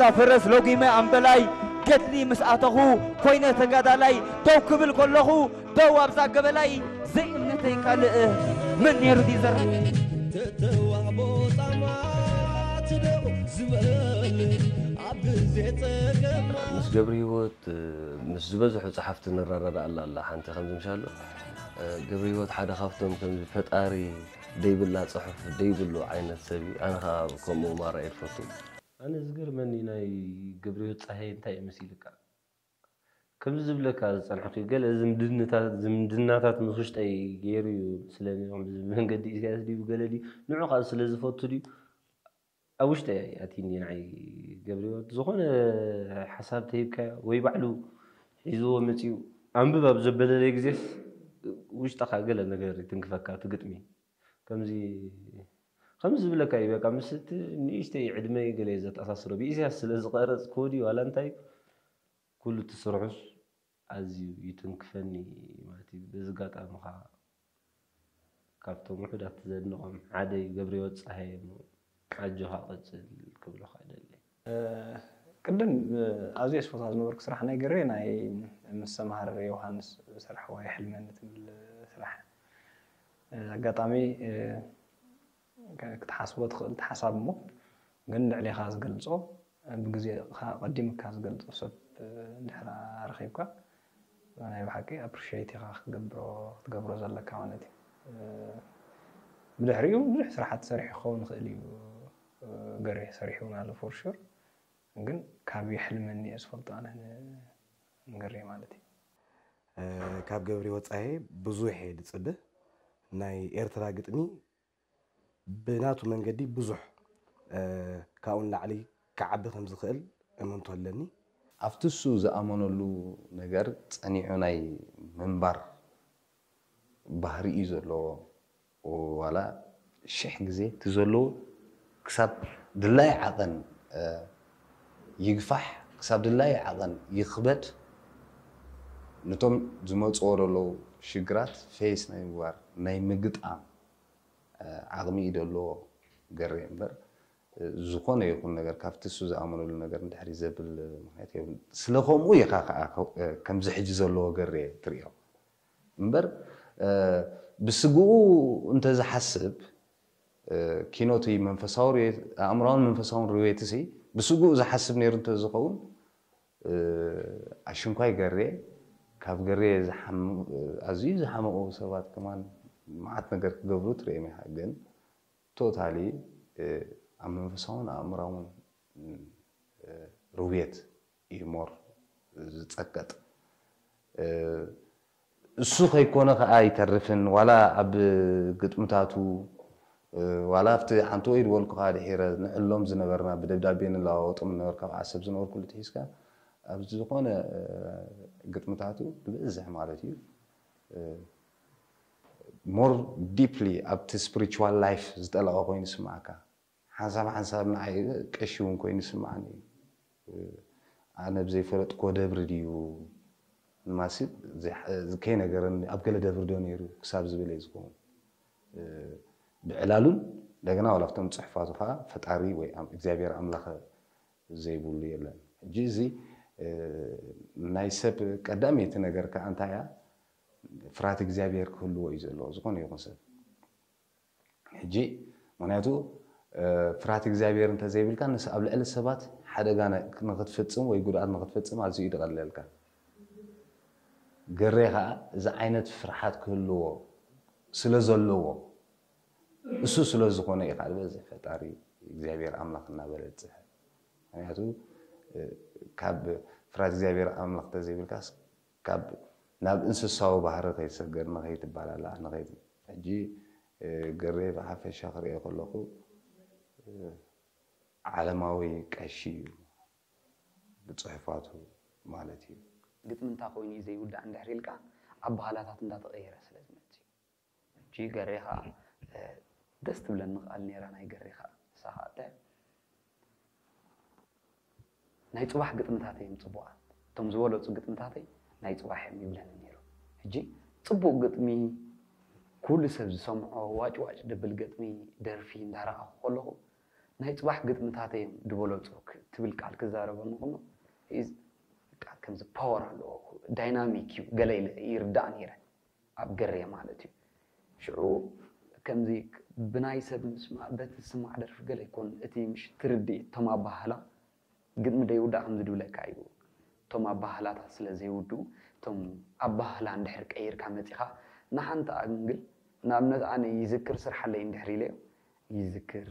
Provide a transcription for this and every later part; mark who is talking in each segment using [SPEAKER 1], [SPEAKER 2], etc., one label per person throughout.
[SPEAKER 1] ጻዕዳ ፈረስ ሎጊመ ኣምበላይ ገድሊ ምስ ኣተኹ ኮይነ ተጋዳላይ ደው ክብል ከለኹ ደው ኣብዛ ገበላይ ዘይእምነተይ ካልእ መን ነይሩ ዲዘር ተተዋህቦ ጻማ ትደው
[SPEAKER 2] ዝበል ኣብ ግዜ ጸገማ ምስ ገብርሂወት ምስ ዝበዝሑ ጸሓፍቲ ንረዳዳኣላ ኣላ ሓንቲ ከምዚ ምሻሎ ገብሪሂወት ሓደ ካብቶም ከምዚ ፈጣሪ ደይብላ ጽሑፍ ደይብሉ ዓይነት ሰብ እዩ ኣነ ከኣ ከምኡ ማራ እየ ድፈቱ። ኣነ ዝገርመኒ ናይ ገብሪሂወት ጸሃየ እንታይ እዩ መሲልካ ከምዚ ዝብለካ ዝጸንሕኩ ገለ ዝምድናታት ምስ ውሽጠይ ጌሩ እዩ መስለኒ ከምዚ ብመንገዲ ኢሰያስ ድዩ ብገለ ድዩ ንዑ ከኣ ስለ ዝፈቱ ድዩ ኣብ ውሽጠይ ኣይ ኣቲን ድዩ ንዓይ ገብሪወት ዝኾነ ሓሳብ ተሂብካዮ ወይ ባዕሉ ሒዝዎ መጺኡ ኣንብብ ኣብ ዘበለለይ ግዜስ ውሽጥኻ ገለ ነገር ይትንክፈካ እቲ ግጥሚ ከምዚ ከምዚ ዝብለካ እዩ በቃ ምስ እቲ ንእሽተይ ዕድመይ ገለ ዘተኣሳስሮ ብኢሳያስ ስለ ዝቐረጽ ኮዲ ዋላ እንታይ ኩሉ እቲ ስርሑስ ኣዝዩ ይትንክፈኒ ማቲቭ በዚ ጋጣሚ ካኣ ካብቶም ውሑዳት ዘድንቆም ሓደ ዩ ገብሪሂወት ጸሃየ እሞ ኣጆኻ ቀጽል ክብለኻ እደሊ። ቅድም
[SPEAKER 3] ኣዝየ ዝፈትዋ ዝነበርኩ ስራሕ ናይ ገሬ ናይ ምስ ሰምሃር የውሃንስ ዝሰርሕዋ የሕልመኒ ትብል ስራሕ ኣጋጣሚ ክትሓስቦ ትኽእል ሓሳብ እሞ ግን ልዕሌኻ ዝገልጾ ብግዜኻ ቀዲምካ ዝገልጾ ሰብ ድሕሪ ረኺብካ ናይ ብሓቂ ኣፕሪሽየት ኢኻ ክትገብሮ ክትገብሮ ዘለካ ማለት እዩ ብድሕሪኡ ብዙሕ ስራሓት ሰሪሑ ክኸውን ይኽእል እዩ ገሬ ሰሪሑ ኣሎ ፎር ሹር ግን ካብ የሕልመኒ እየ ዝፈልጦ ኣነ ንገሬ ማለት እዩ
[SPEAKER 4] ካብ ገብሬ ወፃኢ ብዙሕ እየ ዝፅበ ናይ ኤርትራ ግጥሚ ብናቱ መንገዲ ብዙሕ ካብኡ ንላዕሊ ክዓቢ ከም ዝኽእል እምንቶ ኣለኒ። ኣብቲ እሱ
[SPEAKER 5] ዝኣመነሉ ነገር ጸኒዑ ናይ ምንባር ባህሪ እዩ ዘለዎ፣ ዋላ ሽሕ ግዜ እቲ ዘለዎ ክሳብ ድላዩ ዓቐን ይግፋሕ ክሳብ ድላዩ ዓቐን ይኽበድ ንቶም ዝመጽዎ ደለዉ ሽግራት ፌስ ናይ ምግባር ናይ ምግጣም ዓቕሚ እዩ ደለዎ ገሬ እምበር ዝኾነ ይኹን ነገር ካብቲ እሱ ዝኣመነሉ ነገር ንድሕሪት ዘብል ምኽንያት የብሉን ስለ ከምኡ ኢኻ ከኣ ከምዚ ሕጂ ዘለዎ ገሬ ትሪኦ እምበር ብስግኡ እንተዝሓስብ ኪኖ እቲ መንፈሳዊ ርዌት፣ ኣእምሮኣውን መንፈሳውን ርዌትሲ ብስግኡ ዝሓስብ ነይሩ እንተዝኸውን፣ ኣሽንኳይ ገሬ፣ ካብ ገሬ ኣዝዩ ዝሓመቑ ሰባት ከማን መዓት ነገር ክገብሩ ትርእዮም ኢኻ። ግን ቶታሊ ኣብ መንፈሳውን ኣእምሮኣውን ርዌት ኢዩ ሞር ዝጸቀጥ እሱ ከይኮነ ከኣ ኣይተርፍን ዋላ ኣብ ግጥምታቱ ዋላ ኣብቲ ሓንቲ ወይ ድበልኩኻ ድሒረ ንዕሎም ዝነበርና ብደብዳቤ ንለዋወጦም ነበረ ካብ ዓሰብ ዝነበርኩሉ ትሒዝካ ኣብ ዝኾነ ግጥምታቱ ብብዝሕ ማለት እዩ ሞር ዲፕሊ ኣብቲ ስፕሪቹዋል ላይፍ ዝጠለቐ ኮይኑ ይስምዓካ ሓንሳብ ሓንሳብ ንዓይ ቀሺ እውን ኮይኑ ይስምዓኒ እዩ። ኣነ ብዘይፈለጥክዎ ደብሪ ድዩ ንማሲብ ከይነገረኒ ኣብ ገለ ደብሪ ዶ ነይሩ ክሳብ ዝብል እየ ዝኸውን ብዕላሉን እንደገና ዋላ ኣብቶም ፅሑፋቱ ከዓ ፈጣሪ ወይ እግዚኣብሔር ኣምላኸ ዘይብሉ የለን። ሕጂ እዚ ናይ ሰብ ቀዳመይቲ ነገር ከዓ እንታይ እያ ፍርሃት እግዚኣብሔር ክህልዎ እዩ ዘለዎ ዝኾነ ይኹን ሰብ። ሕጂ ምክንያቱ ፍርሃት እግዚኣብሄር እንተ ዘይብልካ ንስ ኣብ ልዕሊ ሰባት ሓደጋ ንክትፍጽም ወይ ጉድኣት ንክትፍጽም ኣዝዩ እዩ ዝቐለልካ። ገሬ ከኣ እዚ ዓይነት ፍርሓት ክህልዎ ስለ ዘለዎ እሱ ስለ ዝኮነ እዩ ከኣ ዝበዝሕ ፈጣሪ እግዚኣብሄር ኣምላኽ እናበለ ዝጽሕፍ። ምክንያቱ ካብ ፍርሃት እግዚኣብሄር ኣምላኽ እንተ ዘይብልካስ ካብ ናብ እንስሳዊ ባህሪ ከይትሰገር ንከይትባላላዕ ንከይ ሕጂ ገሬ ብሓፈሻ ክርእዮ ከለኩ ዓለማዊ ቀሺ እዩ ብጽሑፋቱ ማለት እዩ። ግጥሚ እንታ
[SPEAKER 6] ኮይኑ እዩ ዘይውዳእ እንድሕር ኢልካ ኣባሃላታት እንዳተቀየረ ስለ ዝመጽእ እዩ። እቺ ገሬ ከኣ ደስ ትብለኒ ቃል ኔራ ናይ ገሬ ከኣ ንሳ ከኣ እንታይ ናይ ጽባሕ ግጥምታተይ እዮም ጽቡቃት እቶም ዝበለጹ ግጥምታተይ ናይ ጽባሕ እዮም ይብለኒ ኔሩ ሕጂ ጽቡቅ ግጥሚ ኩሉ ሰብ ዝሰምዖ ዋጭ ዋጭ ደብል ገጥሚ ደርፊ እንዳረኣኹ ከለኹ ናይ ጽባሕ ግጥምታተይ እዮም ድበለጹ ትብል ቃል ክዛረበኒ ከሎ ከምዚ ፓወር ኣለዎ ዳይናሚክ እዩ ገለ ኢለ ይርዳእ ኔረ ኣብ ገሬ ማለት እዩ ሽዑ ከምዚ ብናይ ሰብ ምስማእ በቲ ዝስማዕ ደርፊ ገለ ይኮን እቲ ምሽ ትርዲኢት እቶም ኣባሃህላ ግጥሚ ደይውዳእ ከምዚ ድብለካ እዩ እቶም ኣባሃህላታት ስለ ዘይውድኡ እቶም ኣባሃህላ እንድሕር ቀይርካ መጺኻ ንሓንቲ ኣንግል ንኣብነት ኣነ ይዝክር ስርሓለይ እንድሕር ኢለዮ ይዝክር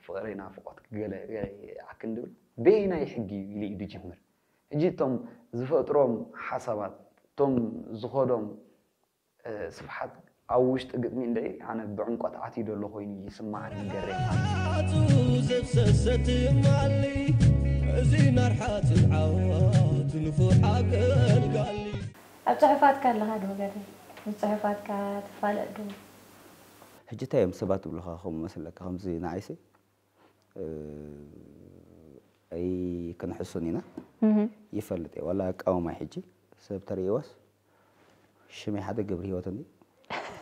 [SPEAKER 6] ፍቕረይ ናፍቖትኪ ገለ ገለ ይኣክን ድብል በየናይ ሕጊ እዩ ኢሉ እዩ ድጅምር ሕጂ እቶም ዝፈጥሮም ሓሳባት እቶም ዝኸዶም ስፍሓት ኣብ ውሽጢ ግጥሚ እንድዒ ኣነ ብዕምቆት ዓትዩ ደሎ ኮይኑ ይስማዓኒ ገሬ
[SPEAKER 7] ማሪ። ኣብ ጽሑፋትካ
[SPEAKER 8] ኣለኻ ዶ ገሬ? ምስ ጽሑፋትካ ትፋለጥ ዶ?
[SPEAKER 1] ሕጂ እንታይ እዮም ሰባት ዝብሉኻ ከም ዝመስለካ ከምዚ ንዓይሲ ኣይክንሕሱን ኢና ይፈልጥ እየ ዋላ ኣቃውማይ ሕጂ ሰብ ተርእይዎስ ሽመይ ሓደ ገብርሂወት እንድዩ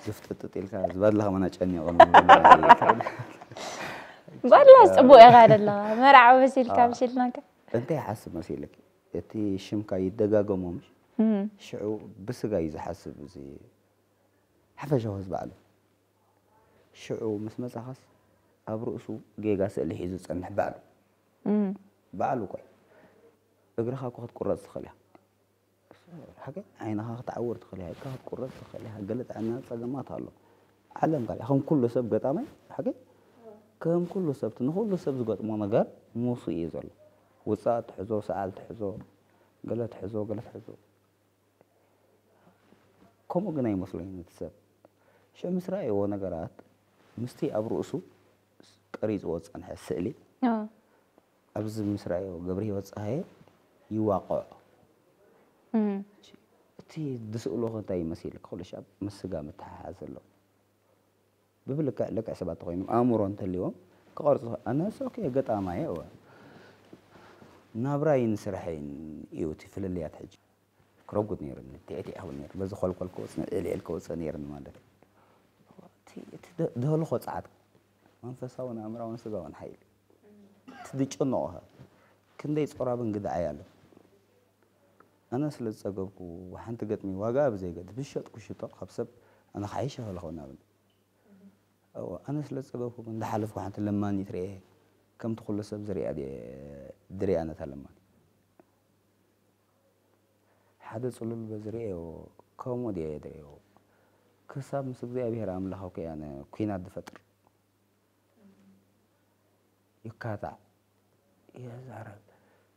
[SPEAKER 1] ዝፍጥጥጥ ኢልካ ዝበድለኻ መን ኣጨኒቑኒ ባላስ
[SPEAKER 8] ፅቡቅ ኢኻ ደለኻ መርዓ መሲልካ ምሽልናካ እንታይ ይሓስብ
[SPEAKER 1] መሲልክ እቲ ሽምካ ይደጋገሞ ምሽ ሽዑ ብስጋ እዩ ዝሓስብ እዚ ሓፈሻዊ ህዝቢ ዓለም ሽዑ ምስ መጻኻስ ኣብ ርእሱ ጌጋ ስእሊ ሒዙ ዝጸንሕ ባዕሉ ባዕሉ ቆይ እግርኻ እኮ ክትቁረጽ ትኽእል ኢኻ ሓቀይ ዓይንኻ ክትዓውር ትኽእል ኢኻ ኢድካ ክትቁረጽ ትኽእል ኢኻ ገለ ጥዕና ጸገማት ኣሎ ዓለም ካልእ ከም ኩሉ ሰብ ገጣማይ ሓቂ ከም ኩሉ ሰብ ንኹሉ ሰብ ዝገጥሞ ነገር ምውሱ እዩ ዘሎ ውፃእ ትሕዞ ሰዓል ትሕዞ ገለ ትሕዞ ገለ ትሕዞ ከምኡ ግን ኣይመስሎን እቲ ሰብ። ሽዑ ምስ ረኣይዎ ነገራት ምስቲ ኣብ ርእሱ ቀሪጽዎ ዝጸንሐ ስእሊ ኣብዚ ምስ ረኣይዎ ገብርሂወት ጸሃየ ይዋቐዖ። እቲ ዝስእሎኸ እንታይ ይመስል? ክብሎ ሽዓ ምስ ስጋ ምትሕሓዝ ኣለዎ። ብብልክዕ ልክዕ ሰባት ተኾይኖም ኣእምሮ እንተልዎም ክቐርጹ ኣነስ ኦኬ ገጣማይ እየ እወ ናብራይን ስርሐይን እዩ እቲ ፍልልያት ሕጂ ክረጉድ ነይሩኒ ቲዕቲዕ ክብል ነይሩ በዚ ኮልኮል ክወጽእ ዕልዕል ክወጽእ ነይሩኒ ማለት እቲ ደህልኾ ጸዓት መንፈሳውን ኣእምራውን ስጋውን ሓይሊ እቲ ዝጨነቑኻ ክንደይ ጾራብ እንግድዓይ ኣሎ ኣነ ስለ ዝጸገብኩ ሓንቲ ገጥሚ ዋጋኣ ብዘይገድስ ብዝሸጥኩ ክሽጦ ካብ ሰብ ኣነ ክሓይሽ ይኽእል እኸውን ናበለ እወ ኣነ ስለ ዝጸገብኩ ግን እንዳሓለፍኩ ሓንቲ ለማኒት ርእየ ከምቲ ኩሉ ሰብ ዝርእያ ድየ ድርእያ ነታ ለማኒት ሓደ ጽሉል በዚ ርእዮ ከምኡ ድየ ድርእዮ ክሳብ ምስ እግዚኣብሄር ኣምላኽ ኮይ ኣነ ኩናት ዝፈጥር ይካታዕ የዛረብ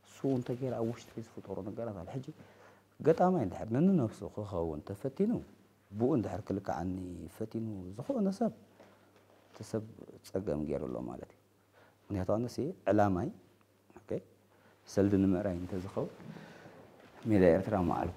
[SPEAKER 1] እሱ እንተገይረ ኣብ ውሽጢ ዝፍጠሩ ነገራት ኣሎ ሕጂ ገጣማይ እንድሕር ንንነብሱ ክኸውን ተፈቲኑ ብኡ እንድሕር ክልክዓኒ ፈቲኑ ዝኾነ ሰብ እቲ ሰብ ፀገም ገይሩ ኣሎ ማለት እዩ ምክንያቱ ኣነሲ ዕላማይ ሰልዲ ንምዕራይ እንተዝኸውን ሜዳ ኤርትራ ምዓልኩ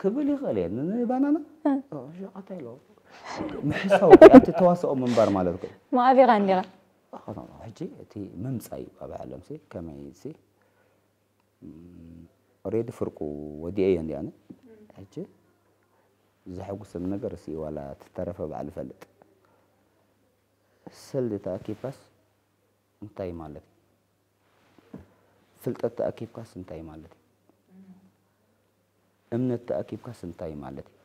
[SPEAKER 1] ክብል ይኽእል እየ ንባናና ሸቃታይ ኣሎ ምሕሳው ኣብቲ ተዋስኦ ምንባር ማለት እዩ ማዕቢኻ
[SPEAKER 8] እንዲኻ ሕጂ
[SPEAKER 1] እቲ ምምፃእ እዩ ኣብ ዓለም ሲ ከመይ ሲ ኦሬዲ ፍርቁ ወዲኤ እየ እንዲኣነ ሕጂ ዘሐጉሰኒ ነገር ሲ ዋላ ትተረፈ ባዕሉ ፈልጥ ስልታ ኪፓስ እንታይ ማለት እዩ? ፍልጠት ተኣኪብካስ እንታይ ማለት እዩ? እምነት ተኣኪብካስ እንታይ ማለት እዩ?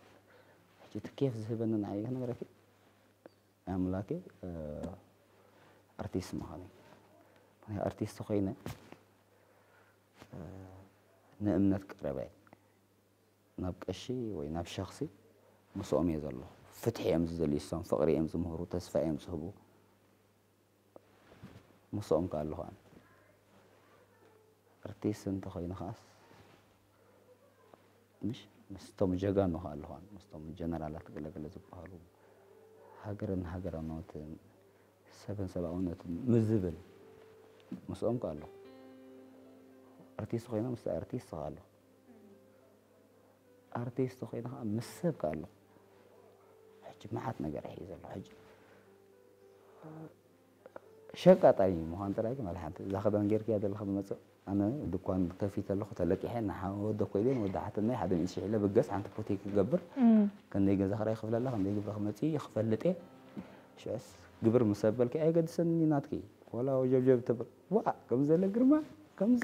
[SPEAKER 1] ሕጂ እቲ ኬፍ ዝህበኒ ንዓይ ክነግረኪ ኣምላኬ ኣርቲስት ምዃነይ ምክንያቱ ኣርቲስት ኮይነ ንእምነት ቀረበ ናብ ቀሺ ወይ ናብ ሸኽሲ ምስኦም እየ ዘሎ ፍትሒ እዮም ዝደልዩ እሶም ፍቕሪ እዮም ዝምህሩ ተስፋ እዮም ዝህቡ ምስኦም ከ ኣለኹ ኣነ ኣርቲስት እንተኾይኑ ከዓስ ምሽ ምስቶም ጀጋኑ ከ ኣለኹ ኣነ ምስቶም ጀነራላት ገለገለ ዝበሃሉ ሃገርን ሃገራውነትን ሰብን ሰብኣውነትን ምስ ዝብል ምስኦም ከ ኣለኹ ኣርቲስት ኮይኖም ምስ ኣርቲስት ከ ኣለኹ ኣርቲስት ኮይነ ከዓ ምስ ሰብ ከዓ ኣሎ ሕጂ መዓት ነገር ይሕዩ ዘሎ ሕጂ ሸቃጣ እዩ ምዃን ጥራይ ግን ዋላ ሓንቲ እዛ ክዳን ጌርክያ ዘለካ ብመፅእ ኣነ ድኳን ከፊተ ኣለኹ ተለቂሐ ንወደ ኮይደ ወደ ሓትናይ ሓደ ሚእቲ ሽሕ ኢለ ብገስ ሓንቲ ፖቴ ክገብር ክንደይ ገዛ ክራይ ክፍለ ኣለካ ክንደይ ግብረ ክመፅእ እዩ ክፈልጥ እየ ሽዕስ ግብር ምስ ኣበልኪ ኣየገድሰኒ ናትኪ ዋላ ወጀብጀብ ትብል ዋ ከምዘለ ግርማ ከምዚ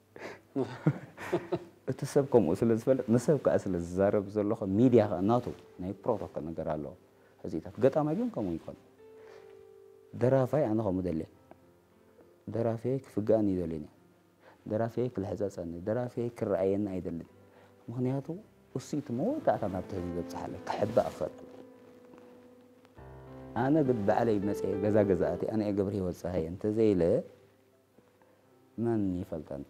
[SPEAKER 1] እቲ ሰብ ከምኡ ስለ ዝፈልጥ ንሰብ ከኣ ስለ ዝዛረብ ዘሎኸ ሚድያ ከኣ ናቱ ናይ ፕሮቶኮል ነገር ኣለዎ። ሕዚታት ገጣማይ ግን ከምኡ ይኮን ደራፋይ ኣነ ከምኡ ደልየ ደራፍየ ክፍግኣኒ ይደልየኒ ደራፍየ ክልሕጸጸኒ ደራፍየ ክረኣየኒ ኣይደልን ምክንያቱ እሱ እቲ መወዳእታ ናብቲ ህዝቢ ዘብጽሓለ ክሕባእ ክፈል ኣነ ግን ባዕለይ መጽየ ገዛ ገዛእቲ ኣነ ገብረ ህይወት ፀሃየ እንተዘይለ መን ይፈልጠን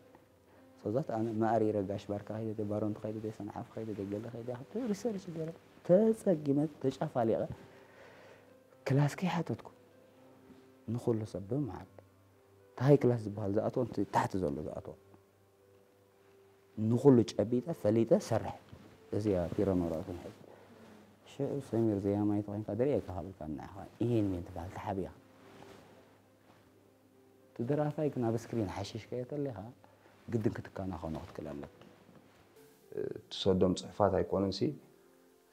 [SPEAKER 1] ሶዛት ኣነ ማእሪረ ጋሽ ባርካ ከይደ ባሮንት ከይደ ሰንዓፍ ከይደ ገለ ከይደ ክብ ሪሰርች ገረ ተጸጊመ ተጫፋሊቐ ክላስ ከይሓተትኩ ንኩሉ ሰብ ብምዓል ታይ ክላስ ዝበሃል ዝኣትዎ እቲ ታሕቲ ዘሎ ዝኣትዎ ንኩሉ ጨቢጠ ፈሊጠ ሰርሐ እዚያ ፒረኖራት ክንሕዝ ሽዑ ሰሚር ዘያማይ ተኮይንካ ደሪኤካ ካብልካ ንዓኻ ይሄን ሜን ትበሃል ተሓቢኻ እቲ ደራፋይ ግን ኣብ ስክሪን ሓሽሽ ከየተሌኻ ግድን ክትከናኸኖ ክትክል ኣለካ። ትሰዶም
[SPEAKER 5] ጽሑፋት ኣይኮኑንሲ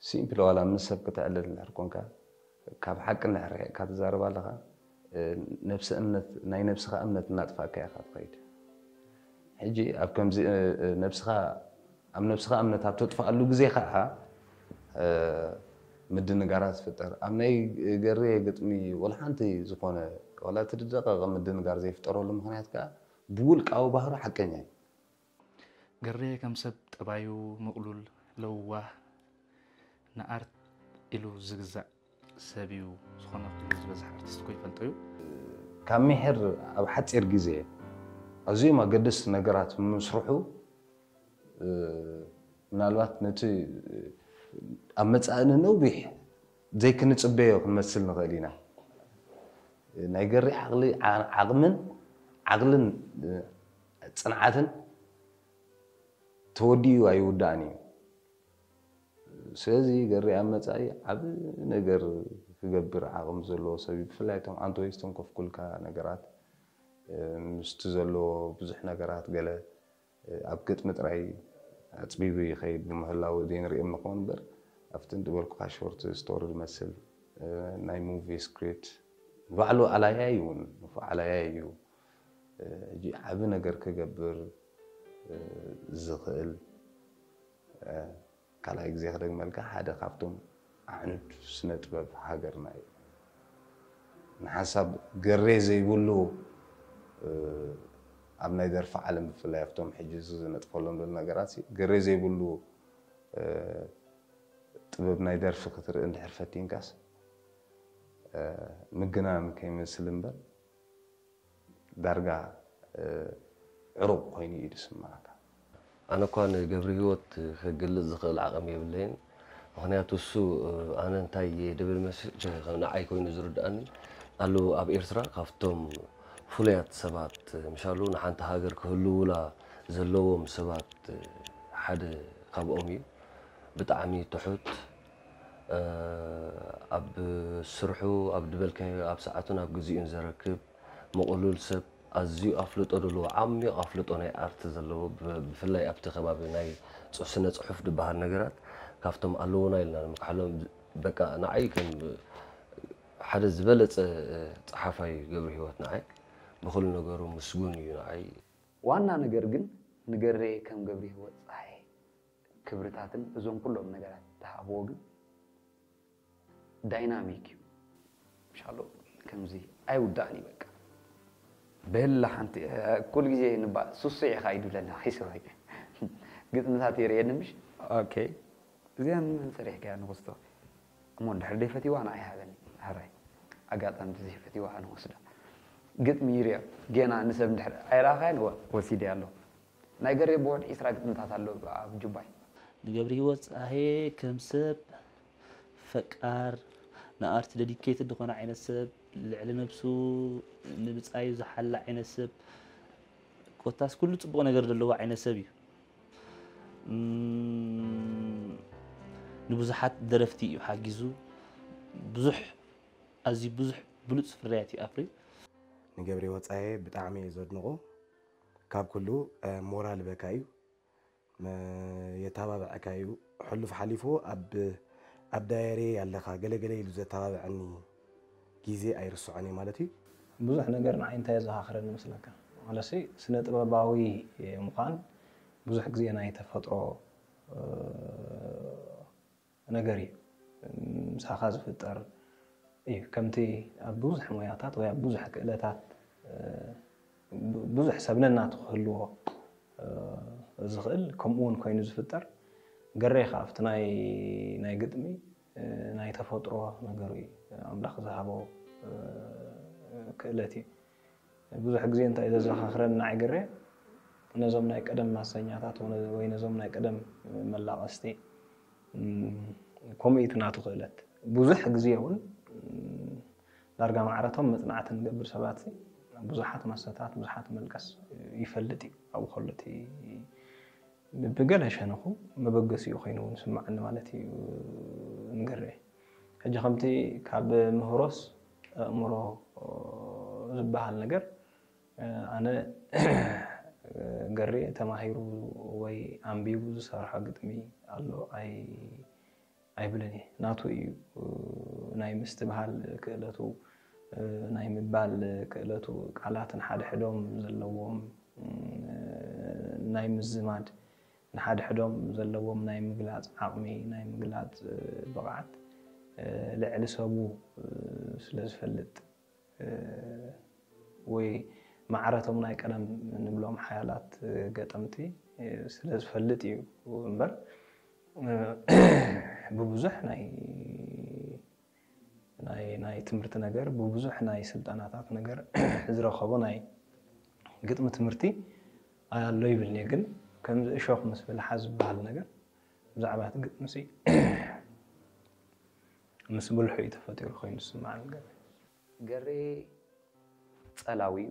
[SPEAKER 5] ሲምፕሊ ዋላ ምስ ሰብ ክተዕልል እንድሕር ኮንካ ካብ ሓቂ እንድሕር ርሒቕካ ትዛረብ ኣለኻ ነብሰ እምነት ናይ ነብስኻ እምነት እናጥፋእካያ ኢኻ ትኸይድ ሕጂ ኣብ ከምዚ ነብስኻ ኣብ ነብስኻ እምነት ኣብ ተጥፍኣሉ ግዜ ከኣ ምድንጋራት ይፍጠር። ኣብ ናይ ገርየ ግጥሚ ወላ ሓንቲ ዝኾነ ወላ እቲ ዝደቐቐ ምድንጋር ዘይፍጠረሉ ምኽንያት ከኣ ብውልቃዊ ባህሩ ሓቀኛ እዩ።
[SPEAKER 9] ገርየ ከም ሰብ ጠባዩ ምቕሉል፣ ለዋህ፣ ንኣርት ኢሉ ዝግዛእ፣ ሰብ እዩ ዝኾነ ክብሪ ዝበዝሐ ኣርቲስት እኮ ይፈልጦ እዩ። ካብ
[SPEAKER 5] ሚሒር ኣብ ሓፂር ግዜ ኣዝዮም ኣገደስቲ ነገራት ምምስርሑ ምናልባት ነቲ ኣብ መፃኢ ንነዊሕ ዘይክንፅበዮ ክንመስል ንኽእል ኢና። ናይ ገሪ ዓቕሊ ዓቕምን ዓቕልን ፅንዓትን ተወዲኡ ኣይውዳእን እዩ። ስለዚ ገሬ ኣብ መጻኢ ዓቢ ነገር ክገብር ዓቕሚ ዘለዎ ሰብ እዩ። ብፍላይ እቶም ኣንተ ወይ ዝተንኮፍኩልካ ነገራት ምስቲ ዘለዎ ብዙሕ ነገራት ገለ ኣብ ግጥሚ ጥራይ ኣጽቢቡ ይኸይድ ብምህላዉ ዘይንርእዮም ንኸውን እምበር ኣብቲ ዝበልኩኻ ሾርት ስቶሪ ዝመስል ናይ ሙቪ ስክሪፕት ንባዕሉ ኣላያይ እውን ንፉዕ ኣላያይ እዩ። ሕጂ ዓቢ ነገር ክገብር ዝኽእል ካልኣይ ግዜ ክደግመልካ ሓደ ካብቶም ኣዕኑድ ስነ ጥበብ ሃገርና እዩ ንሓንሳብ ገሬ ዘይብሉ ኣብ ናይ ደርፊ ዓለም ብፍላይ ኣብቶም ሕጂ ዝነጥፈሎም ዘሎ ነገራት ገሬ ዘይብሉ ጥበብ ናይ ደርፊ ክትርኢ እንድሕር ፈቲንካስ ምግናን ከይመስል እምበር ዳርጋ ዕሩቕ ኮይኑ እዩ ዝስምዓካ። ኣነ እኳ
[SPEAKER 2] ንገብሪሂወት ክግልጽ ዝኽእል ዓቕሚ የብለይን ምኽንያቱ እሱ ኣነ እንታይ እየ ድብል መሲጡ ንዓይ ኮይኑ ዝርድኣኒ ኣሉ ኣብ ኤርትራ ካብቶም ፍሉያት ሰባት ምሻሉ ንሓንቲ ሃገር ክህልዉላ ዘለዎም ሰባት ሓደ ካብኦም እዩ ብጣዕሚ ትሑት ኣብ ስርሑ ኣብ ድበልካዮ ኣብ ሰዓቱን ኣብ ግዚኡን ዘረክብ ምቕሉል ሰብ ኣዝዩ ኣፍልጦ ደለዎ ዓሚቕ ኣፍልጦ ናይ ኣርት ዘለዎ ብፍላይ ኣብቲ ከባቢ ናይ ስነ ጽሑፍ ድበሃል ነገራት ካብቶም ኣለዉና ኢልና ንምክሓሎም በቃ ንዓይ ከም ሓደ ዝበለጸ ጸሓፋይ እዩ ገብሩ ህይወት ንዓይ ብኹሉ ነገሩ ምስጉን እዩ ንዓይ። ዋና ነገር
[SPEAKER 6] ግን ንገሬ ከም ገብሩ ህይወት ጸሓየ ክብርታትን እዞም ኩሎም ነገራት ትሃብዎ ግን ዳይናሚክ እዩ ሻሎ ከምዚ ኣይውዳእን እዩ በቃ በላ ሓንቲ ኩሉ ግዜ ንባል ሱሱዕ ኢኻ ኢዱ ለና ሒስባይ ግጥምታት የርእየኒ ምሽ ኦኬ እዚኣ ንመን ሰሪሕካያ ንክስቶ እሞ እንድሕር ደይፈትዋ ንዓይ ሃበኒ ሃራይ ኣጋጣሚ ተዘይፈትዋ ንወስዳ ግጥሚ ይርያ ገና ንሰብ እንድሕር ኣይረኣኻያን እወ ወሲደ ኣሎ ናይ ገሬ ብወድ ዒስራ ግጥምታት ኣሎ ኣብ ጁባይ። ንገብሪሂወት
[SPEAKER 9] ጸሃየ ከም ሰብ ፈቃር ንኣርት ደዲኬትድ ድኮነ ዓይነት ሰብ ልዕሊ ነብሱ ንብጻዩ ዝሓሊ ዓይነት ሰብ ኮታስ ኩሉ ጽቡቅ ነገር ደለዎ ዓይነት ሰብ እዩ ንብዙሓት ደረፍቲ እዩ ሓጊዙ ብዙሕ ኣዝዩ ብዙሕ ብሉጽ ፍርያት እዩ ኣፍርዩ። ንገብሪሂወት
[SPEAKER 4] ጸሃየ ብጣዕሚ እየ ዘድንቆ ካብ ኩሉ ሞራል በካ እዩ የታባበዐካ እዩ ሕሉፍ ሓሊፉ ኣብ ኣብ ዳየሬየይ ኣለካ ገለ ገለ ኢሉ ዘታባበዐኒ ጊዜ ኣይርስዖን እየ ማለት እዩ። ብዙሕ ነገር
[SPEAKER 3] ንዓይ እንታይ የዘኻኽረኒ መስለካ ዋላሲ ስነ ጥበባዊ ምዃን ብዙሕ ግዜ ናይ ተፈጥሮ፣ ነገር እዩ ምሳኻ ዝፍጠር እዩ ከምቲ ኣብ ብዙሕ ሞያታት ወይ ኣብ ብዙሕ ክእለታት ብዙሕ ሰብ ነናቱ ክህልዎ ዝኽእል ከምኡ እውን ኮይኑ ዝፍጠር ገሬ ከዓ ኣብቲ ናይ ግጥሚ ናይ ተፈጥሮ ነገሩ እዩ ኣምላኽ ዝሃቦ ክእለት እዩ ብዙሕ ግዜ እንታይ እዩ ዘዘኻኽረኒ ንዓይ ግሬ ነዞም ናይ ቀደም ማሰኛታት ወይ ነዞም ናይ ቀደም መላቐስቲ ከምኡ እቲ ናቱ ክእለት ብዙሕ ግዜ እውን ዳርጋ ማዕረቶም መፅናዕቲ ንገብር ሰባት ብዙሓት ማሰታት ብዙሓት መልቀስ ይፈልጥ እዩ ኣብኡ ከሎ እቲ ብገለ ሸነኹ መበገሲኡ ኮይኑ እውን ስማዕኒ ማለት እዩ ንግሬ ሕጂ ከምቲ ካብ ምህሮስ ኣእምሮ ዝበሃል ነገር ኣነ ገሬ ተማሂሩ ወይ ኣንቢቡ ዝሰርሖ ግጥሚ ኣሎ ኣይብልን እየ። ናቱ እዩ ናይ ምስትብሃል ክእለቱ፣ ናይ ምባል ክእለቱ፣ ቃላት ንሓድሕዶም ዘለዎም ናይ ምዝማድ፣ ንሓድሕዶም ዘለዎም ናይ ምግላፅ ዓቕሚ፣ ናይ ምግላፅ ብቕዓት ልዕሊ ሰቡ ስለ ዝፈልጥ ወይ ማዕረ እቶም ናይ ቀደም ንብሎም ሓያላት ገጠምቲ ስለ ዝፈልጥ እዩ እምበር ብብዙሕ ናይ ናይ ናይ ትምህርቲ ነገር ብብዙሕ ናይ ስልጠናታት ነገር ዝረከቦ ናይ ግጥሚ ትምህርቲ ኣሎ ይብልኒ ግን ከምዚ እሾክ ምስ ብልሓ ዝበሃል ነገር ብዛዕባ እቲ ግጥሚ ሲ ምስ ብልሑ እዩ ተፈጢሩ ኮይኑ ዝስማዓኒ ገሬ
[SPEAKER 6] ጸላዊ እዩ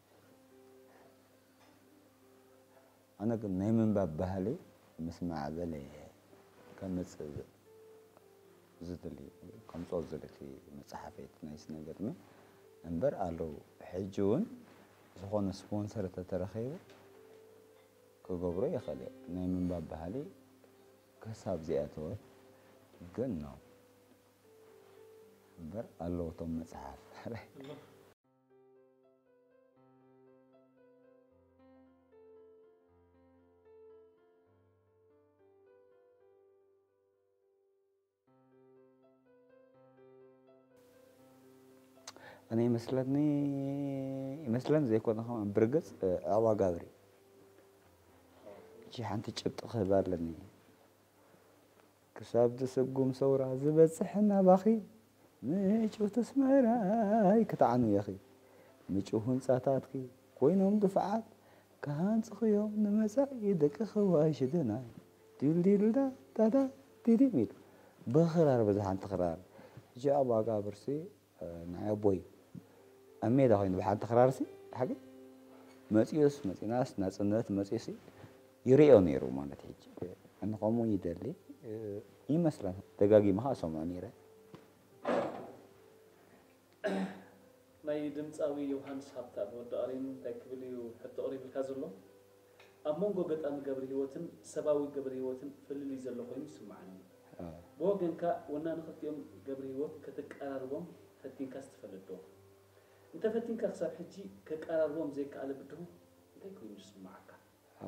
[SPEAKER 1] ኣነ ግን ናይ ምንባብ ባህሊ ምስ ማዕበል እየ ከምፅእ ዝድሊ ከምፅኦ ዝደሊ እቲ መፅሓፈይ እቲ ናይ ስነ ግጥሚ እምበር ኣለዉ ሕጂ እውን ዝኾነ ስፖንሰር ተተረኺቡ ክገብሮ ይኽእል እየ ናይ ምንባብ ባህሊ ክሳብ ዚኣተወ ግን ነው እምበር ኣለዉ እቶም መፅሓፍ እኔ ይመስለኒ ይመስለን ዘይኮነ ከማ ብርግፅ ኣዕዋ ጋብሪ እቺ ሓንቲ ጭብጢ ክህባ ኣለኒ ክሳብ ትስጉም ሰውራ ዝበጽሕ ናባኺ ምጭውቲ ኣስመራይ ክተዓኑ ኢኺ ምጭው ህንጻታትኪ ኮይኖም ድፋዓት ክሃንጽኺዮም ንመጻኢ ደቅኺ ዋይ ሽደናይ ዲልዲልዳዳዳ ዲዲሚል ብኽራር በዚ ሓንቲ ክራር ጃባ ጋብርሲ ንዓይ ኣቦይ ኣብ ሜዳ ኮይኑ ብሓንቲ ክራርሲ ሓቂ መፅኡስ መፂናስ ናፅነት መፅኡሲ ይርእዮ ነይሩ ማለት ሕጂ እንኸምኡ ይደሊ ይመስላ ደጋጊመ ከዓ ሰምዖ ነይረ
[SPEAKER 9] ናይ ድምፃዊ ዮውሃንስ ሃብታ ብወዲ ቃሪን እንታይ ክብል እዩ ሕቶ ቀሪብልካ ዘሎ? ኣብ መንጎ ገጣሚ ገብርሂወትን ሰባዊ ገብርሂወትን ፍልልይ ዘሎ ኮይኑ ይስምዓኒ። ብወገንካ ወናኒ ክልቲኦም ገብርሂወት ከተቀራርቦም ፈቲንካስ ትፈልጥ ዶ? እንተ ፈቲንካ ክሳብ ሕጂ ከቀራርቦም ዘይከኣለ ብድሆ እንታይ ኮይኑ ይስምዓካ?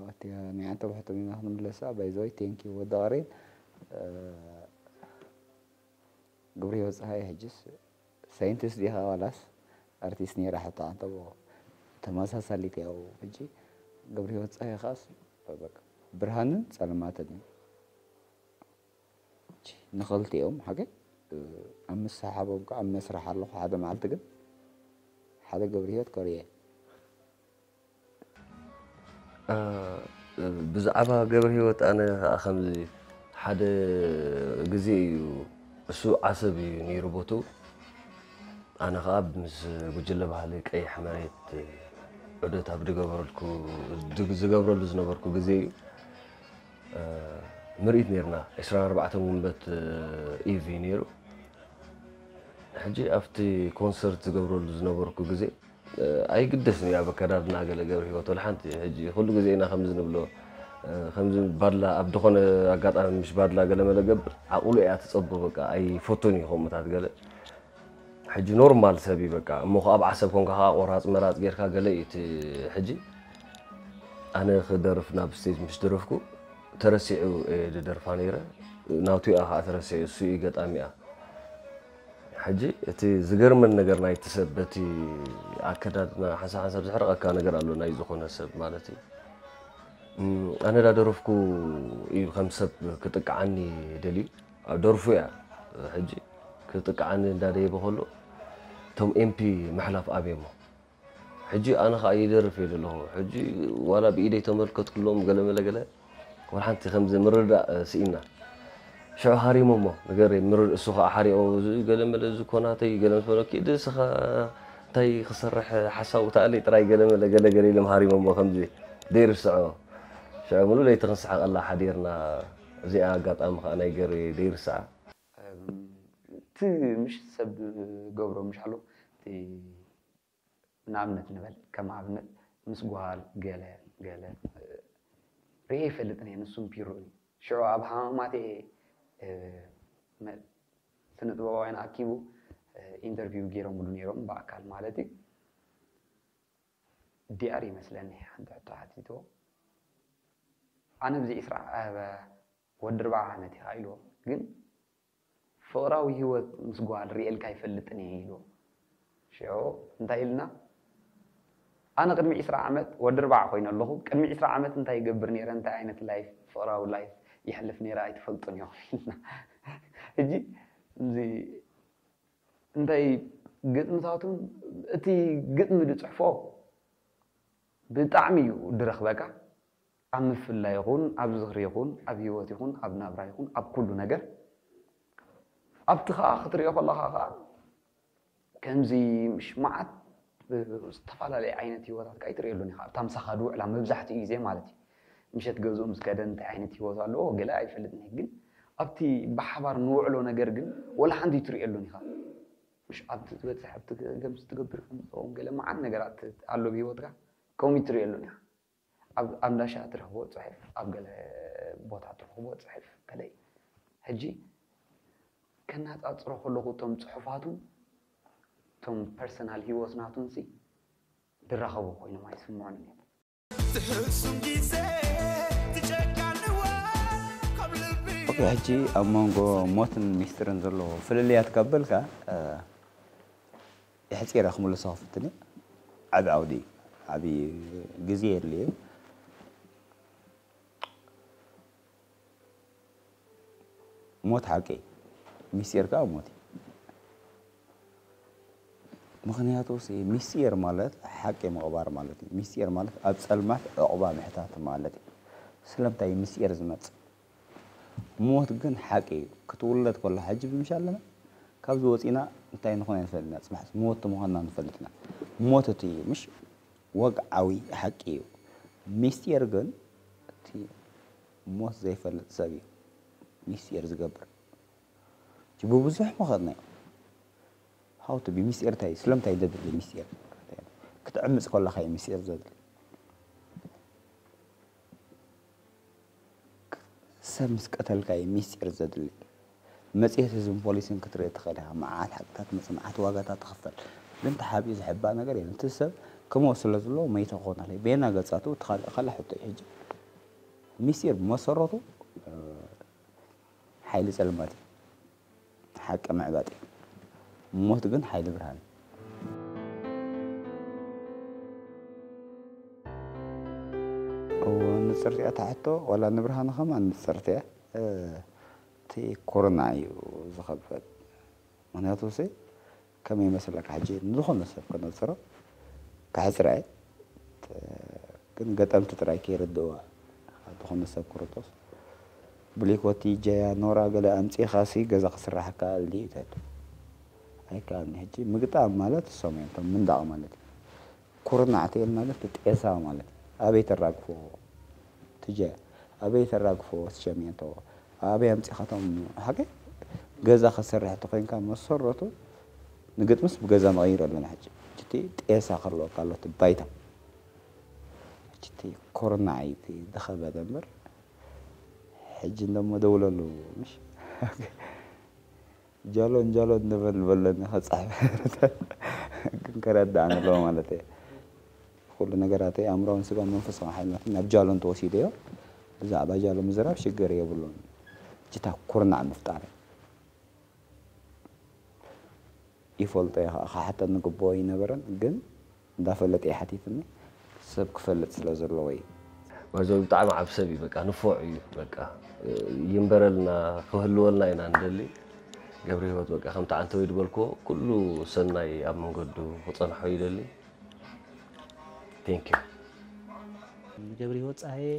[SPEAKER 9] ኣቲ
[SPEAKER 1] ናይ ኣንተ ውሕቶ ሜላ ክንምለሳ ባይ ዘ ወይ ቴንክ ዩ ወዲ ቀሬን ግብርሂወት ጸሃየ ሕጅስ ሳይንቲስት ዲኻ ዋላስ ኣርቲስት ኔራ ሕቶ ሓተዎ ተመሳሳሊት ያው ሕጂ ገብርሂወት ጸሃየ ከኣስ በቃ ብርሃንን ጸልማትን እዩ ንኽልቲኦም ሓገ ኣብ ምሰሓቦም ከዓ ኣብ መስርሕ ኣለኹ ሓደ መዓልቲ ግን ሓደ ገብርሂወት ከርየ
[SPEAKER 2] ብዛዕባ ገብረሂወት ኣነ ከዓ ከምዚ ሓደ ግዜ እዩ እሱ ዓሰብ እዩ ነይሩ ቦትኡ ኣነ ከዓ ምስ ጉጅለ ባህሊ ቀይሕ መሬት ዑደት ኣብ ዝገበረልኩ ዝገብረሉ ዝነበርኩ ግዜ እዩ ምርኢት ነይርና ዕስራን ኣርባዕተን ውንበት ኢቭ እዩ ነይሩ ሕጂ ኣብቲ ኮንሰርት ዝገብረሉ ዝነበርኩ ግዜ ኣይግደስን እዩ ኣብ ኣከዳድና ገለ ገብርሂወት ወላ ሓንቲ ሕጂ ኩሉ ግዜ ኢና ከምዚ ንብሎ ከምዚ ባድላ ኣብ ድኾነ ኣጋጣሚ ምሽ ባድላ ገለ መለ ገብር ዓቕሉ እያ ትጸቦ በቃ ኣይፈቱን እዩ ከምኡታት ገለ ሕጂ ኖርማል ሰብ እዩ በቃ እሞ ከ ኣብ ዓሰብ ኮንካ ከኣ ቆራጽ መራጽ ጌርካ ገለ እዩ እቲ ሕጂ ኣነ ክደርፍ ናብ ስቴጅ ምስ ደረፍኩ ተረሲዑ እየ ደደርፋ ነይረ ናቱ እያ ከኣ ተረሲዑ እሱ እዩ ገጣሚኣ ሕጂ እቲ ዝገርመኒ ነገር ናይቲ ሰብ በቲ ኣከዳድና ሓንሳብ ሓንሳብ ዘሕርቐካ ነገር ኣሎ ናይ ዝኾነ ሰብ ማለት እዩ ኣነ ዳደረፍኩ እዩ ከም ሰብ ክጥቅዓኒ ደልዩ ኣብ ደርፉ እያ ሕጂ ክጥቅዓኒ እንዳደየበ ከሎ እቶም ኤምፒ ምሕላፍ ኣብየሞ ሕጂ ኣነ ከኣ ይደርፍ እየ ዘለኹ ሕጂ ዋላ ብኢደይ ተመልከትኩሎም ገለ መለ ገለ ወላ ሓንቲ ከምዚ ምርዳእ ስኢንና ሽዑ ሃሪሞሞ ንገረይ ምርድ እሱ ከኣ ሓሪኦ ገለ መለ እዚ ኮናተይ ገለ ምስ በሎ ኪድ እስኻ እንታይ ክሰርሕ ሓሳቡ ተኣለይ ጥራይ ገለ መለ ገለ ገለ ኢሎም ሃሪሞሞ ከምዚ ዘይርስዖ ሽዑ ሙሉ ለይቲ ክንስሕቐላ ሓዲርና እዚኣ ኣጋጣሚ ከኣ ናይ ገሬ ዘይርስዓ እቲ
[SPEAKER 6] ምሽ ሰብ ዝገብሮ ምሽ ኣሎ እቲ ንኣብነት ንበል ከም ኣብነት ምስ ጓል ገለ ገለ ሪኤ ኣይፈልጥን እየ ንሱም ፒሮ እዩ ሽዑ ኣብ ሃማማት እየ ስነ ጥበባውያን ኣኪቡ ኢንተርቪው ገይሮምሉ ነይሮም ብኣካል ማለት እዩ ዲኣር ይመስለኒ ሓንቲ ሕቶ ሓቲትዎ ኣነ ብዚ ዕስራ ወዲ ኣርብዓ ዓመት ኢኻ ኢልዎ ግን ፍቕራዊ ሂወት ምስ ጓል ሪኤልካ ኣይፈልጥን እየ ኢልዎ ሽዑ እንታይ ኢልና ኣነ ቅድሚ ዕስራ ዓመት ወዲ ኣርብዓ ኮይነ ኣለኹ ቅድሚ ዕስራ ዓመት እንታይ ይገብር ኔረ እንታይ ዓይነት ላይፍ ፍቕራዊ ላይፍ የሕልፍ ኔረ ኣይትፈልጡን ኢኹም ኢልና ሕጂ እዚ እንታይ ግጥምታቱን እቲ ግጥሚ ዝፅሕፎ ብጣዕሚ እዩ ድረኽበካ ኣብ ምፍላይ ይኹን ኣብ ዝኽሪ ይኹን ኣብ ሂወት ይኹን ኣብ ናብራ ይኹን ኣብ ኩሉ ነገር ኣብቲ ከኣ ክትሪኦ ከለኻ ከኣ ከምዚ ምሽ መዓት ዝተፈላለየ ዓይነት ሂወታት ከኣ ኣይትሪኤሉን ኢኻ ኣብታ ምሳኻ ዝውዕላ መብዛሕትኡ ግዜ ማለት እዩ ምሸት ገዝኡ ምስ ከደ እንታይ ዓይነት ሂወት ኣለዎ ገለ ኣይፈልጥን እየ ግን ኣብቲ ብሓባር ንውዕሎ ነገር ግን ወላ ሓንቲ ኣይትሪኤሉን ኢኻ ምሽ ኣብቲ ትበጽሕ ኣብቲ ከምዚ ትገብር ከምዚ ትኸውን ገለ መዓት ነገራት ኣሎ ብሂወትካ ከምኡ ኣይትሪኤሉን ኢኻ። ኣብ ኣንዳሻ ትረኽቦ ጽሑፍ ኣብ ገለ ቦታ ትረኽቦ ጽሑፍ ከለ እዩ ሕጂ ከናጻጽሮ ከለኹ እቶም ጽሑፋቱን እቶም ፐርሰናል ሂወት ናቱንሲ ድራኸቡ ኮይኖም ኣይስምዑንን እዮም። ትሕሱም ግዜ
[SPEAKER 1] ትጨካንዋ ካብ ልቢ ኦኬ ሕጂ ኣብ መንጎ ሞትን ሚስጢርን ዘሎ ፍልልያት ካብ በልካ የሕጺረ ክምልሶ ክፍትን እየ ዓቢ ዓውዲ እዩ ዓቢ ግዜ የድልዮ እዩ ሞት ሓቂ እዩ ሚስጢር ከዓ ሞት እዩ ምክንያቱ ሚስጢር ማለት ሓቂ ምቕባር ማለት እዩ ሚስጢር ማለት ኣብ ፀልማት ዕቑባ ምሕታት ማለት እዩ ስለምንታይ እዩ ሚስጢር ዝመፅእ ሞት ግን ሓቂ እዩ ክትውለድ ኮላ ሕጂ ብምሻ ኣለና ካብዚ ወጺና እንታይ ንኾን ኣይንፈልጥና ጽባሕ ሞት ምዃንና ንፈልጥና ሞት እቲ እዩ ምሽ ወግዓዊ ሓቂ እዩ ሚስጢር ግን እቲ ሞት ዘይፈልጥ ሰብ እዩ ሚስጢር ዝገብር እቲ ብብዙሕ መኸርናዮ ሃውቲ ብሚስጢር እንታይ እዩ ስለምንታይ እዩ ዘድሊ ሚስጢር ክትዕምፅ ኮላካ እዩ ሚስጢር ዘድሊ ሰብ ምስ ቀተልካ እዩ ሚስጢር ዘድሊ። መጽሔት ህዝብን ፖሊስን ክትርኢ ትኽእል ኢኻ። መዓት ሓቅታት መጽ መዓት ዋጋታት ትኽፈል። ግን ተሓቢኡ ዝሕባእ ነገር የለን። እቲ ሰብ ክመውት ስለ ዝለዎ መይተ ክኸውን ኣለዎ። በየናይ ገጻቱ እቲ ካልእ ካልእ ሕቶ እዩ። ሕጂ ሚስጢር ብመሰረቱ ሓይሊ ጸልማት እዩ። ሓቂ ምዕባጥ እዩ። ሞት ግን ሓይሊ ብርሃን እዩ። ንጽርቲ እያ እታ ሕቶ ዋላ ንብርሃኑ ከማን ንጽርቲ እያ እቲ ኮሮና እዩ ዝኸበድ ምክንያቱ ሲ ከመይ ይመስለካ ሕጂ ንዝኾነ ሰብ ከነጽሮ ከሕጽራ እየ ግን ገጠምቲ ጥራይ ከይርድእዋ ካብ ዝኾነ ሰብ ክርጦስ ብሊኮቲ ጀያ ኖራ ገለ ኣምጺኻሲ ገዛ ክስራሕ ይከኣል ድዩ ተቱ ኣይከኣልን ሕጂ ምግጣም ማለት እሶም እዮም እቶም ምንዳቕ ማለት እዩ ኩርናዕ ቴል ማለት ጤሳ ማለት እዩ ኣበይ ተራግፎ ትጀ ኣበይ ተራግፎ ስሸሜንቶ ኣበይ ኣምጺኻ ቶም ሓቀይ ገዛ ክትሰርሕ ተኾይንካ መሰረቱ ንግጥምስ ብገዛ ንቐይሮ ኣለና ሕጂ ሕጂ ጤሳ ክህልወካ ኣሎ እቲ ባይታ ሕጂ ኩርናዕ እዩ ዝኸበደ እምበር ሕጂ እንደሞ ደውለሉ ምሽ ጃሎን ጃሎን ንበል ንበል ኣለና ክጻሕፍ ግን ከረዳእ ንለዎ ማለት እየ ኩሉ ነገራተይ ኣእምሮን ስጋን መንፈሳዊ ሓይልናት ናብ ጃሎን ተወሲደዮ ብዛዕባ ጃሎ ምዝራብ ሽግር የብሉን ጅታ ኩርናዕ ምፍጣር ይፈልጦ እየ ከዓ ክሓተኒ ግቡኦ ኣይነበረን ግን እንዳፈለጠ እዩ ሓቲትኒ ሰብ ክፈልጥ ስለ ዘለዎ እዩ። ባይዘወይ
[SPEAKER 2] ብጣዕሚ ዓብ ሰብ እዩ በቃ ንፎዕ እዩ በቃ ይንበረልና ክህልወልና ኢና ንደሊ ገብረሂወት በቃ ከምቲ ዓንተወይ ዝበልክዎ ኩሉ ሰናይ ኣብ መንገዱ ክፀንሖ ይደሊ ቴንኪው
[SPEAKER 9] ገብረሂወት ፀሃየ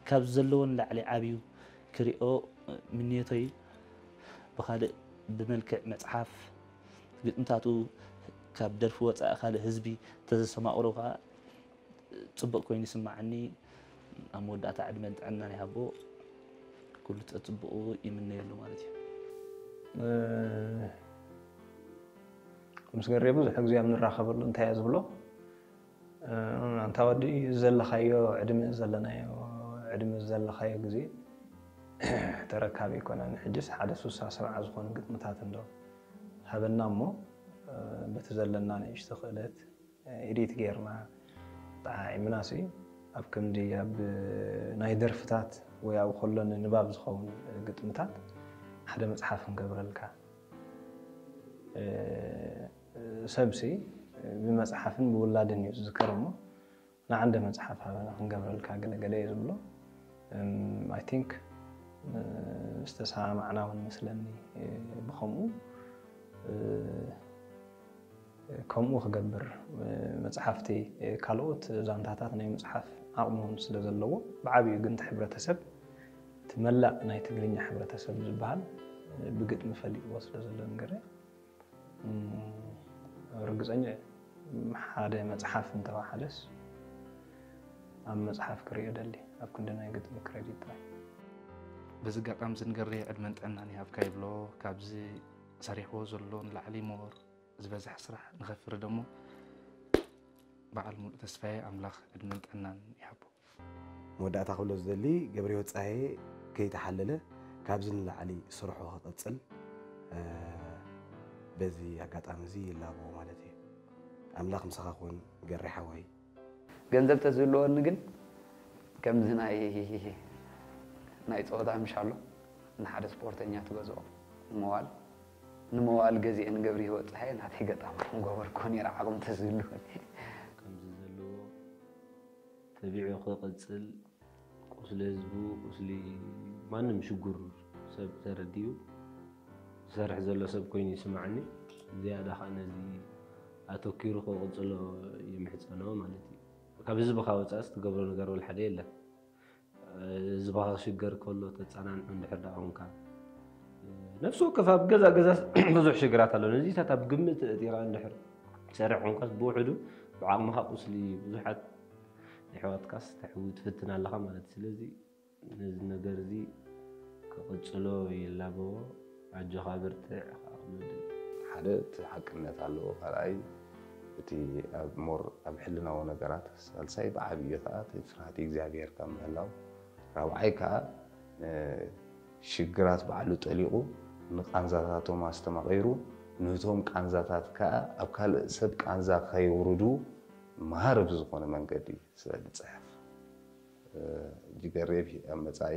[SPEAKER 9] ካብ ዘለዎ ንላዕሊ ዓብዩ ክሪኦ ምንዮተይ ብካልእ ብመልክዕ መጽሓፍ ግጥምታቱ ካብ ደርፊ ወጻኢ ካልእ ህዝቢ ተዘሰማቅሮ ከኣ ጽቡቅ ኮይኑ ይስመዓኒ ኣብ መወዳእታ ዕድመን ጥዕናን ይሃቦ ኩሉ ጸጽቡቁ ይምነየሉ ማለት እዩ ምስ
[SPEAKER 3] ገሬ ብዙሕ ግዜ ኣብ ንራኸበሉ እንታይ እየ ዝብሎ ኣንታ ወዲ እዚ ዘለኻዮ ዕድመ እዚ ዘለናዮ ዕድመ እዚ ዘለኻዮ ግዜ ተረካቢ ኣይኮነን። ሕጅስ ሓደ ሱሳ ሰብዓ ዝኾኑ ግጥምታት እንዶ ሃበና እሞ በቲ ዘለና ንእሽቶ ክእለት ኤዲት ጌርና ጠዓዒምናሲ ኣብ ክንዲ ኣብ ናይ ደርፍታት ወይ ኣብ ከሎ ንንባብ ዝኸውን ግጥምታት ሓደ መጽሓፍ ክንገብረልካ ሰብሲ ብመጽሓፍን ብውላድን እዩ ዝዝከር እሞ ንዓንደ መጽሓፍ ሃበና ክንገብረልካ ገለ ገለ እየ ዝብሎ ኣይ ቲንክ ዝተሰማማዕና እውን መስለኒ ብከምኡ ከምኡ ክገብር መፅሓፍቲ ካልኦት ዛንታታት ናይ ምፅሓፍ ዓቕሚ እውን ስለ ዘለዎ ብዓብኡ ግን እቲ ሕብረተሰብ እቲ መላእ ናይ ትግርኛ ሕብረተሰብ ዝበሃል ብግጥሚ ፈሊጥዎ ስለ ዘሎ ንገረ ርግፀኛ እየ ሓደ መፅሓፍ እንተወሓደስ ኣብ መፅሓፍ ክሪኦ ደሊ ኣብ ክንዲ ናይ ግጥሚ ክሬዲት ጥራይ
[SPEAKER 10] በዚ ኣጋጣሚ እዚ ንገሪ ዕድመን ጥዕናን ይሃብካ ይብሎ ካብዚ ሰሪሕዎ ዘሎ ንላዕሊ ሞር ዝበዝሐ ስራሕ ንኸፍሪ ደሞ በዓል ሙሉእ ተስፋዬ ኣምላኽ ዕድመን ጥዕናን ይሃቦ መወዳእታ
[SPEAKER 4] ክብሎ ዝደሊ ገብርሂወት ጸሃየ ከይተሓለለ ካብዚ ንላዕሊ ስርሑ ክቅጽል በዚ ኣጋጣሚ እዚ ይላቦ ማለት እየ። ኣምላኽ ምሳኻ ክኹን ገሬ ሓወይ። ገንዘብ
[SPEAKER 6] ተዝህልወኒ ግን ከምዚ ናይ ናይ ጸወታ ምሻሎ ንሓደ ስፖርተኛ ትገዝኦ ንመዋል ንመዋል ገዚኤ ንገብርሂወት ጸሃየ ናተይ ገጣሚ ምገበርክዎ ኔረ ዓቅሚ ተዝህልወኒ። ከምዚ
[SPEAKER 9] ዘለዎ ተቢዑ ክቅፅል ቁስሊ ህዝቡ ቁስሊ ማንም ሽጉር ሰብ ተረዲኡ ዝሰርሕ ዘሎ ሰብ ኮይኑ ይስማዕኒ ዝያዳ ከዓ ነዚ ኣተኪሩ ክቅፅሎ ይምሕፀኖ ማለት እዩ ካብ ህዝብካ ወፃእስ ትገብሮ ነገር ወልሓደ የለን
[SPEAKER 2] ህዝብኻ ክሽገር ከሎ ተጸናንዑ እንድሕር ደኣ ኹንካ ነፍሲ ወከፍ ኣብ ገዛ ገዛስ ብዙሕ ሽግራት ኣሎ ነዚታት ኣብ ግምት እቲኻ እንድሕር ትሰርሕ ኮንካስ ብውሕዱ ብዓቕምኻ ቁስሊ ብዙሓት ኣሕዋትካስ ተሕዊ ትፍትን ኣለኻ ማለት ስለዚ ነዚ ነገር እዚ ክቕጽሎ ይላበዎ ኣጆኻ በርትዕ ኢኻ ወለደይ።
[SPEAKER 5] ሓደ እቲ ሓቅነት ኣለዎ ካልኣይ እቲ ኣብ ሞር ኣብ ሕልናዊ ነገራት ሳልሳይ ብዓብዩ ከዓ እቲ ፍርሃት እግዚኣብሔር ካብ ምህላው ራብዓይ ከዓ ሽግራት ባዕሉ ጠሊቑ ንቃንዛታቶም ኣስተማቒሩ ነቶም ቃንዛታት ከዓ ኣብ ካልእ ሰብ ቃንዛ ከየውርዱ መሃሪ ብዝኾነ መንገዲ ስለ ዝፅሕፍ ጅገሬብ ኣብ መፃኢ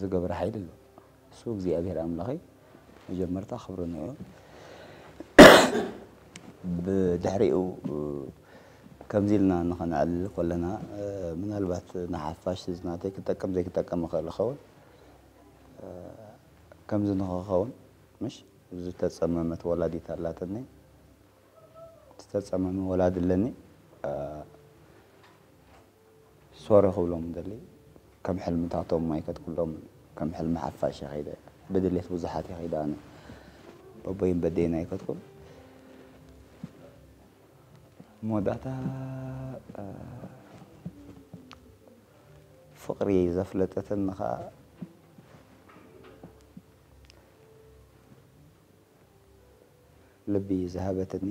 [SPEAKER 1] ዝገብር ሓይሊ ኣሎ እሱ እግዚኣብሔር ኣምላኽ እዩ መጀመርታ ክብሪ ንዑ ብድሕሪኡ ከምዚ ኢልና ንኸነዕልል ኮለና ምናልባት ንሓፋሽ እዚ ናተይ ክጠቀም ዘይክጠቀም ይኽእል ይኸውን ከምዚ ንኸኸውን ምሽ ዝተፀመመት ወላዲት ኣላትኒ ዝተፀመመ ወላዲ ኣለኒ ሶሪ ክብሎም ዝደሊ ከም ሕልምታቶም ኣይከድኩሎም ከም ሕልሚ ሓፋሽ እየ ከይደ ብድሌት ብዙሓት እየ ከይደ ኣነ በቦይን በዴን ኣይከድኩን መወዳእታ ፍቕሪ ዘፍለጠትን ከዓ ልቢ ዝሃበትኒ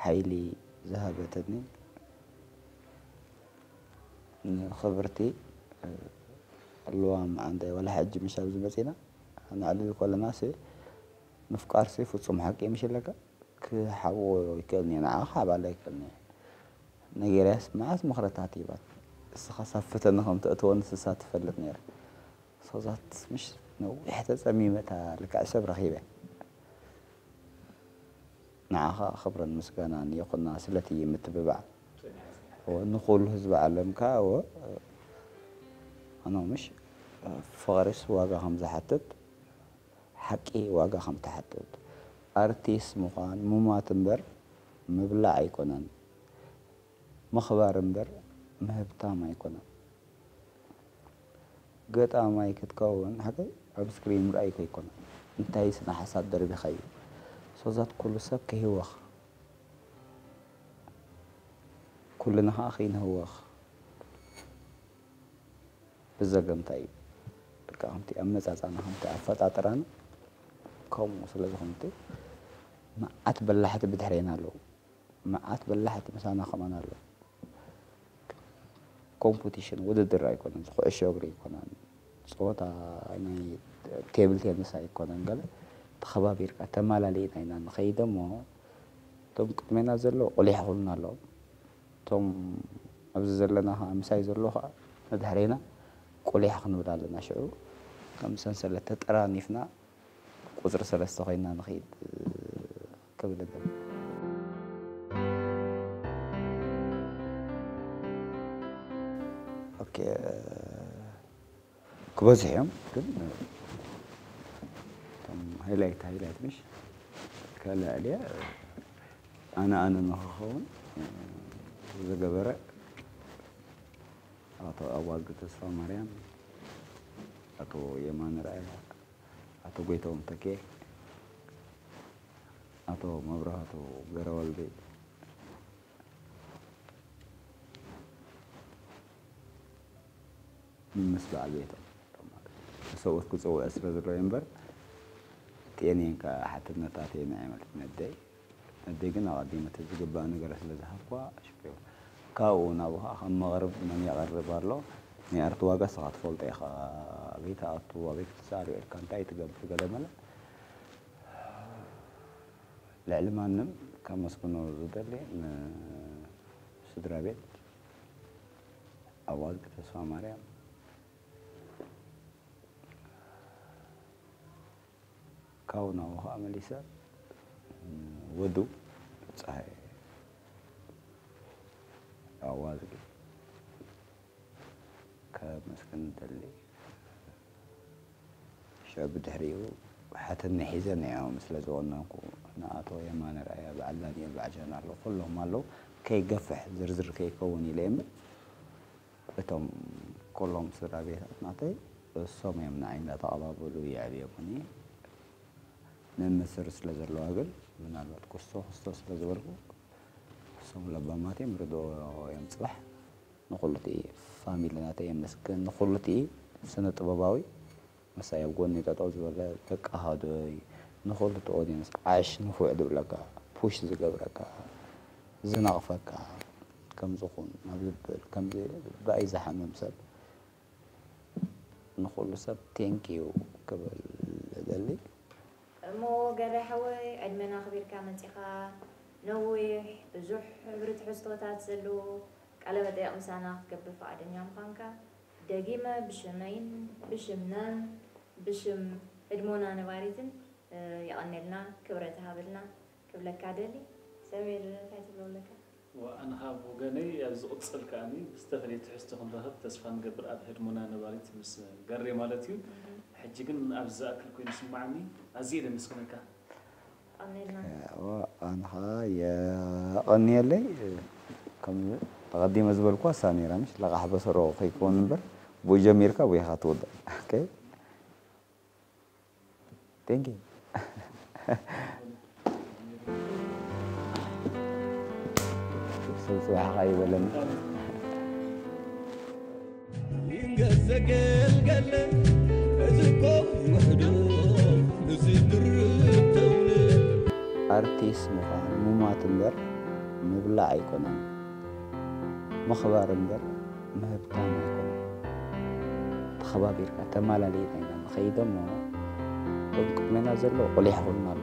[SPEAKER 1] ሓይሊ ዝሃበትኒ ንክብርቲ ልዋም ዓንደ ወላ ሕጂ ምሽ ኣብዚ መጺና ንዕልል ኮለናሲ ምፍቃርሲ ፍጹም ሓቂ ምሽ ኣለካ ክሓብኦ ይከእልኒ ንዓኻ ክሓባላ ይከእልኒ ነጊርያስ መዓት ምኽርታት ሂባትኒ እስኻ ሳብ ፈተነ ከም ተእትወኒ ንሳ ትፈልጥ ነራ ሶዛት ምሽ ነዊሕ ተጸሚመ እታ ልክዕ ሰብ ረኺበ። ንዓኻ ክብርን ምስጋናን ይኹና ስለቲ ምትብባዕ እወ ንኹሉ ህዝቢ ዓለም ከኣ እወ ኣኖ ምሽ ፍቕሪስ ዋጋ ከም ዝሓትት ሓቂ ዋጋ ከም ትሓትት ኣርቲስ ምዃን ሙማት እምበር ምብላዕ ኣይኮነን ምኽባር እምበር ምህብታም ኣይኮነን። ገጣማይ ክትከውን ሃገይ ኣብ ስክሪን ምርኣይ ከይኮነ እንታይ ስነ ሓሳብ ደርቢኻ እዩ ሶዛት ኩሉ ሰብ ክህወኽ ኩልና ኸኣ ከይንህወኽ ብዘገምታ እዩ ልክዕ ከምቲ ኣመጻጽኣና ከምቲ ኣፈጣጥራና ከምኡ ስለ ዝኾነ መዓት በላሕቲ ብድሕሬና ኣለዉ። መዓት በላሕቲ ምሳና ከማን ኣለዉ ኮምፑቲሽን ውድድር ኣይኮነን ኩዕሾ እግሪ ኣይኮነን ፀወታ ናይ ቴብል ቴንስ ኣይኮነን ገለ ተኸባቢርካ ተማላሊእና ኢና ንኸይድ እሞ እቶም ቅድሜና ዘሎ ቁሊሕ ይኹኑና ኣለዎም እቶም ኣብዚ ዘለና ከዓ ምሳይ ዘሎ ከዓ ንድሕሬና ቁሊሕ ክንብል ኣለና ሽዑ ከም ሰንሰለት ተጠራኒፍና ቁፅሪ ሰለስተ ኮይና ንኸይድ ክብል እብል። ክበዝሑ እዮም ግን ሃይላይት ሃይላይት ምሽ ከላዕልያ ኣነ ኣነ ንክኸውን ዝገበረ ኣቶ ኣዋልዱ ተስፋ ማርያም፣ ኣቶ የማነ ርኣያ ኣቶ ጎይትኦም ተኬ፣ ኣቶ መብራህቱ ገረወልድ፣ ምስ በዓል ቤቶም ንሰብኡት ክጽውዕ ስለ ዝረኣዩ እምበር ጤኔን ከኣ ሓትነት ኣትየን ኣይመልስን ኣደይ ኣደይ ግን ኣቐዲመ ተዝግባእ ነገረ ስለ ዝሃብኩዋ ሽዑ ካብኡ ናብኡ ከኣ ከም መቕርብ መን የቕርብ ኣሎ ናይ ኣርት ዋጋ ስኻ ትፈልጦ ኢኻ ኣበይ ትኣቱ ኣበይ ክትሳኣል ውዒልካ እንታይ ትገብር ገለ መለ ልዕሊ ማንም ከመስግኖ ዝደሊ ን ስድራ ቤት ኣዋልድ ተስፋማርያም ካብኡ ናብኡ ከኣ መሊሰ ወዱ ጸሃየ ኣዋዝጊ ከመስግን እደሊ። ሽዑ ብድሕሪኡ ሓትነይ ሒዘ ንዒኦም ስለ ዝወነንኩ፣ ንኣቶ የማነ ርኣያ፣ በዓል ዳኒኤል፣ በዓል ጀነራል ኩሎም ኣለዉ፣ ከይገፍሕ ዝርዝር ከይከውን ኢለ እየ እምበር፣ እቶም ኩሎም ስድራ ቤታት ናተይ እሶም እዮም ንዓይ እንዳተቀባበሉ የዕብዮሙኒ መምስር ስለ ዘለዋ ግን ምናልባት ኩስቶ ኩስቶ ስለ ዝበልኩ እሶም ለባማት እዮም ርድኦ እዮም ጽባሕ ንኩሉቲ ፋሚሊ ናተይ የመስግን ንኩሉቲ ስነ ጥበባዊ ምሳይ ኣብ ጎኒ ጠጠው ዝበለ ከቃሃዶይ ንኩሉ እቲ ኦድየንስ ዓሽ ንፉዕ ዝብለካ ፑሽ ዝገብረካ ዝነቅፈካ ከምዚ ኩን ናብዚ በል ከምዚ ብኣይ ዝሓምም ሰብ ንኩሉ ሰብ ቴንክ ዩ ክብል እደሊ። እሞ
[SPEAKER 8] ገበይ ሓወይ ዕድመን ኣኽቢርካ መጺኻ ነዊሕ ብዙሕ ሕብሪ ትሕዝቶታት ዘለዎ ቃለ መጠየቕ ምሳና ክትገብር ፍቓደኛ ምዃንካ። ደጊመ ብሽመይን ብሽምናን ብሽም ህድሞና ነባሪትን የቀኔልና ክብረት ሃብልና ክብለካ እደሊ ሰሚር እንታይ ትብሎ ኣለካ። ኣነ ከኣ ብ
[SPEAKER 11] ወገነይ ኣብ ዝቅጽል ከኣ ብዝተፈለየ ትሕዝቶ ክንራከብ ተስፋ ንገብር ኣብ ህድሞና ነባሪት ምስ ገሬ ማለት እዩ ሕጂ ግን ኣብዚ ዝኣክል ኮይኑ ይስማዓኒ ኣዝየ ድ የመስግነካ።
[SPEAKER 1] ኣንኻ የቐንየለይ ከም ኣቐዲመ ዝበልኩዋ እሳ ነይራ ምሽ ለቓሕ በሰሮ ከይከውን እምበር ብኡ ጀሚርካ ብኡ ኢኻ ትውዳእ ኦኬ ቴንክ ዩ ሰብ ፅባሕኻ ይበለና
[SPEAKER 7] ኣርቲስት
[SPEAKER 1] ምዃን ሙማት እምበር ምብላዕ ኣይኮነን ምኽባር እምበር ምህብታም ኣይኮነን ተኸባቢርካ ተማላሊእና ኢና ንኸይድ እሞ ሎሚ ቅድሜና ዘሎ ቁሊሕ ኹን ኣሎ።